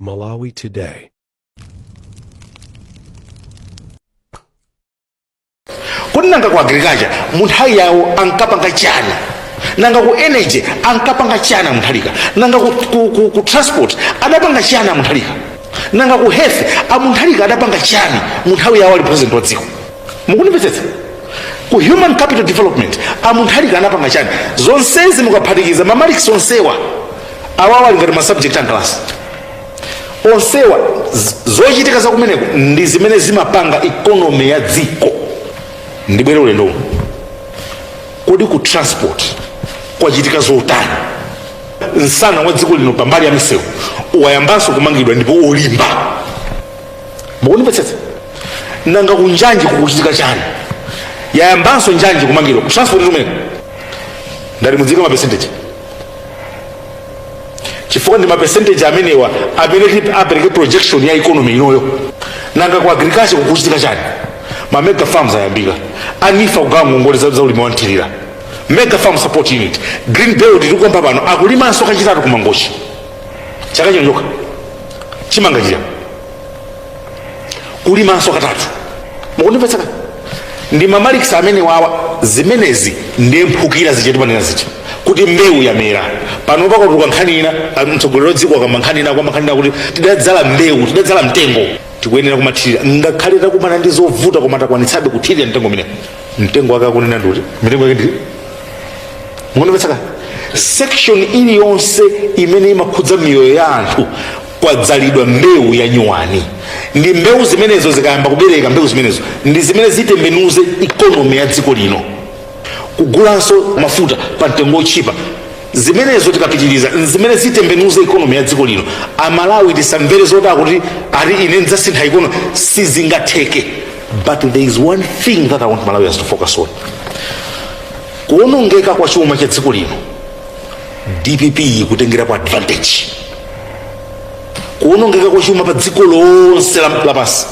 Malawi Today. kodi nanga ku agriculture mu nthawi yawo ankapanga chani nanga ku energy ankapanga chani munthalika nanga ku, ku, ku, ku transport adapanga chani a Mutharika nanga ku health a Mutharika adapanga chani mu nthawi yawo ali president wa dziko mukundimvetsetsa ku human capital development a Mutharika anapanga chani zonsezi mukaphatikiza mamalikisi onsewa awawa ali ngati masubject a mkalasi onsewa z- zochitika za kumeneko ndi zimene zimapanga ikonomi ya dziko ndibwere ulendo uno kodi ku transport kwachitika zotani msana wa dziko lino pambali ya misewu wayambanso kumangidwa ndipo olimba mukundimvetsetsa nanga kunjanji kukuchitika chani yayambanso njanji kumangidwa kutransport tumene ngati muziika mapesenteji chifukwa ndi mapesenteji amenewa amene tip- apereke projection ya economy inoyo nanga ku agriculture kukuchitika chani ma mega farms ayambika a NEEF kugawa ngongole za za ulimi wanthirira mega farm support unit green belt tikukamba pano akulimanso kachitatu kumangochi chaka chino chokha chimanga chija kulimanso katatu mukundimvetsetsa ndi mamalikisi amenewawa zimenezi ndi mphukira zija timanena zija kuti mbewu yamera pano pakatuluka nkhani ina ah, mtsogoleri wadziko akamba nkhani ina kukamba nkhani ina kuti tidadzala mbewu tidadzala mtengo tikuyenera kumathirira ngakhale takumana ndi zovuta koma takwanitsabe kuthirira mtengo umenewu mtengo wake akunena ndikuti mitengo yake ndi mukundimvetsetsa section iliyonse imene imakhudza miyoyo ya anthu kwadzalidwa mbewu ya nyuwani ndi mbewu zimenezo zikayamba kubereka mbewu zimenezo ndi zimene zitembenuze ikonomi ya dziko lino kugulanso mafuta pa mtengo wotchipa zimenezo tikapitiriza zimene zitembenuze ikonomi ya dziko lino amalawi tisamvere zoti akuti ati ine ndidzasintha ikonomi sizingatheke but there is one thing that i want malawians to focus on kuonongeka kwa chuma cha dziko lino dpp ikutengerapo advantage kuonongeka kwa chuma pa dziko lonse la- lapansi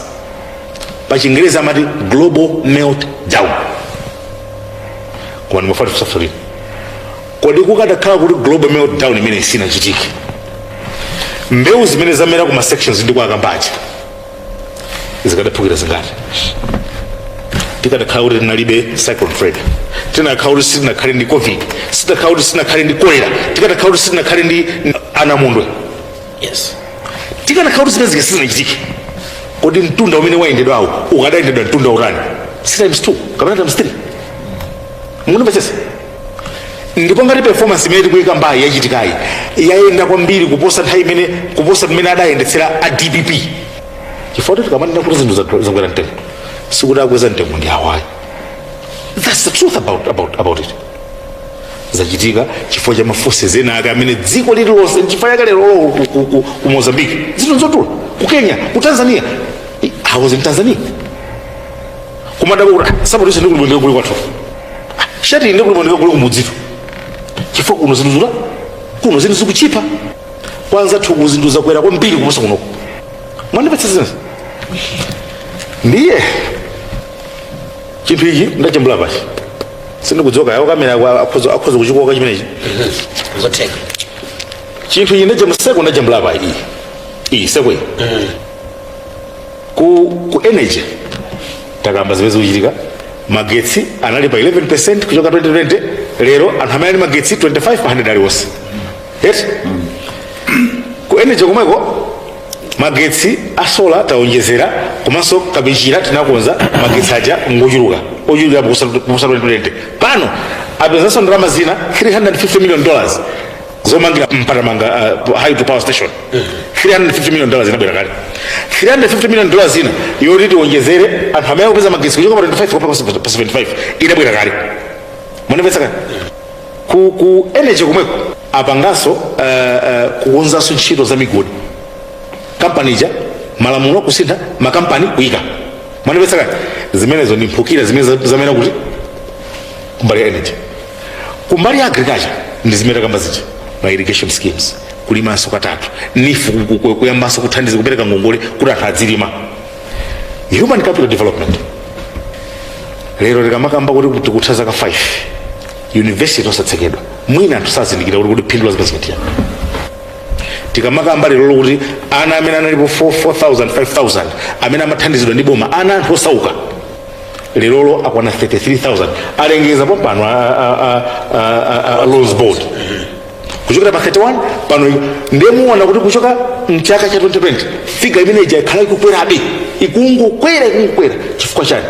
pa chingerezi amati global meltdown koma ndimafuna ndikusavuliri kodi kukadakhala kuti global meltdown imeneyi isinachitike mbewu zimene zamera ku ma sections ndi kwa akambaja zikadaphukira zingati tikadakhala kuti tinalibe cyclone fred tikanakhala kuti sitinakhale ndi covid tikadakhala kuti sitinakhale ndi kolera tikadakhala kuti sitinakhale ndi anamondwe yes tikadakhala kuti zimenezi sizinachitike kodi mtunda umene wayendedwawo ukadayendedwa mtunda wotani si times two kapena times three mukundimvetsetsa ndipo ngati performance imene tikuyikambayi yachitikayi yayenda kwambiri kuposa nthawi imene kuposa mmene adayendetsera a dpp chifukwa kuti tikamanena kuti zinthu zathu zakwera mtengo sikuti akweza mtengo ndi awayi that's the truth about, about, about it zachitika chifukwa cha maforces ena ake amene dziko lililonse nchifukwa chake leroloko ku, ku, ku, ku mozambique zinthu nzodula ku kenya ku tanzania I- i was in tanzania kumadabwa kuti "Ah, nsapato ise ndikagule bwendeka kuli kwathu Ah, shati ndikagule bwendeka kuli kumudzito chifukwa kuno zinthu zadula kuno zinthu zikuchipa kwa anzathuku zinthu zakwera kwambiri kuposa kunoko mwandimvetsetsa ndiye chinthu ichi ndachambula pachi sindikudzoka yawo kamera akwa- akhoza akhoza kuchikoka chimenechi nzotheka chinthu ichi ndachambula seko ndachambula pachi iyi iyi seko iyi Ku, ku energy takamba zimene zikuchitika magetsi anali pa 11 kuchoka 2020 lero anthu amene ali ndi magetsi 25 pa 100 aliwonse yes ku energy komweko magetsi a solar taonjezera komanso Kapichira tinakonza magetsi aja ngochuluka ochulukira kuposa 2020 pano apezanso ndalama zina 350 million dollars zomangira Mpatamanga uh, hydro power station 350 million dollars inabwera kale 350 million dollars zina yoti tiwonjezere anthu amene akupeza magetsi kuchoka pa 25 kupita pa 75 inabwera kale mwandimvetsetsa ku, ku energy komweko apanganso uh, uh, kukonzanso ntchito za migodi kampani ija malamulo kusintha makampani kuyika mwandimvetsetsa zimenezo ndi mphukira zimene za- zamera kuti kumbali ya energy kumbali ya agriculture ndi zimene takamba zija ma irrigation schemes kulimanso katatu NEEF ku- ku- ku- kuyambanso kuthandiza kupereka ngongole kuti anthu adzilima human capital development lero tikamakamba kuti tikutha zaka 5 university osatsekedwa mwina anthu sakuzindikira kuti kuti phindu la zimenezi ndi chiyani tikamakamba lerolo kuti ana amene analipo 4 4000 5000 amene amathandizidwa ndi boma ana anthu osauka lerolo akwana 33000 alengeza pompano a- a- a- a- a- a loans board kuchokera pa 31 pano ndiye muona kuti kuchoka mchaka cha 2020 figa imene ija yakhala ikukwerabe ikungokwera ikungokwera chifukwa chani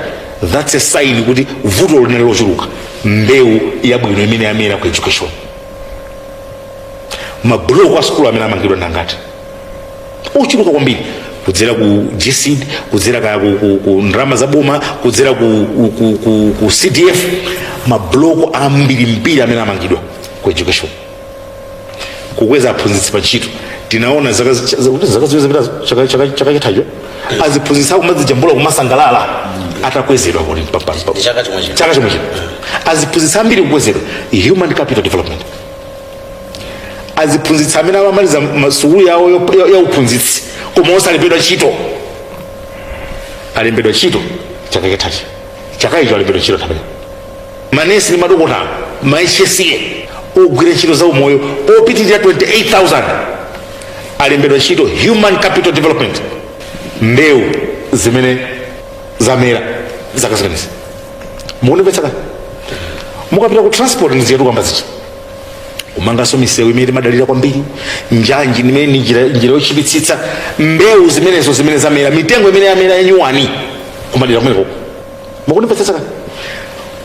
that's a sign kuti vuto linali lochuluka mbewu yabwino imene yamera ku education mabuloko a sukulu amene amangidwa ndi angati ochuluka kwambiri kudzera ku GESD kudzera ka ku, ku, ku ndalama za boma kudzera ku, ku, ku, ku, ku cdf mabloko ambirimbiri amene amangidwa ku education kukweza aphunzitsi pa ntchito tinaona zaka zi- za- kuti zaka ziwiri zapita chaka- chaka- chaka chithacho aziphunzitsi akumadzijambula kumasangalala atakwezedwa kuti pa- pa- pa- Chaka chomwe chino. chaka chomwe chino aziphunzitsi ambiri kukwezedwa human capital development aziphunzitsi amene amamaliza ma- sukulu yawo yo- ya- ya uphunzitsi koma osalembedwa ntchito alembedwa ntchito chaka chathachi chaka icho alembedwa ntchito tamene manesi ndi madokotala ma HSA ogwira ntchito za umoyo opitirira 28000 alembedwa ntchito human capital development mbewu zimene zamera zaka zimenezi mukundimvetsa kani mukapita ku transport ndisiyetu kukamba zichi kumanganso misewu imene timadalira kwambiri njanji imene ni njira njira yochipitsitsa mbewu zimenezo zimene zamera mitengo imene yamera yanyuwani kumadera kumeneko mukundimvetsetsa kani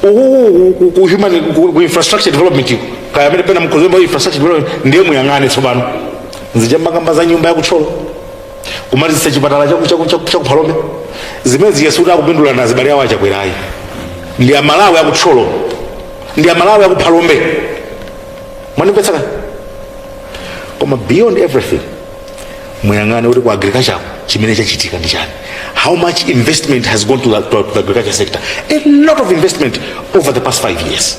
uku ku- ku human ku ku infrastructure development uku, kaya amene pena mkhozemba infrastructure development ndiye muyang'ane tsopano zija mumakamba za nyumba yakutcholo kumalizitsa chipatala chaku- chaku- chaku- chakuphalombe zimene ndiyesa kuti akupindula ndi zibale awo achakwerayi ndi amalawi akutcholo ndi amalawi akuphalombe mwandimvetsa kani koma beyond everything muyang'ane kuti ku agriculture chimene chachitika ndi chani how much investment has gone to the, to the agriculture sector a lot of investment over the past five years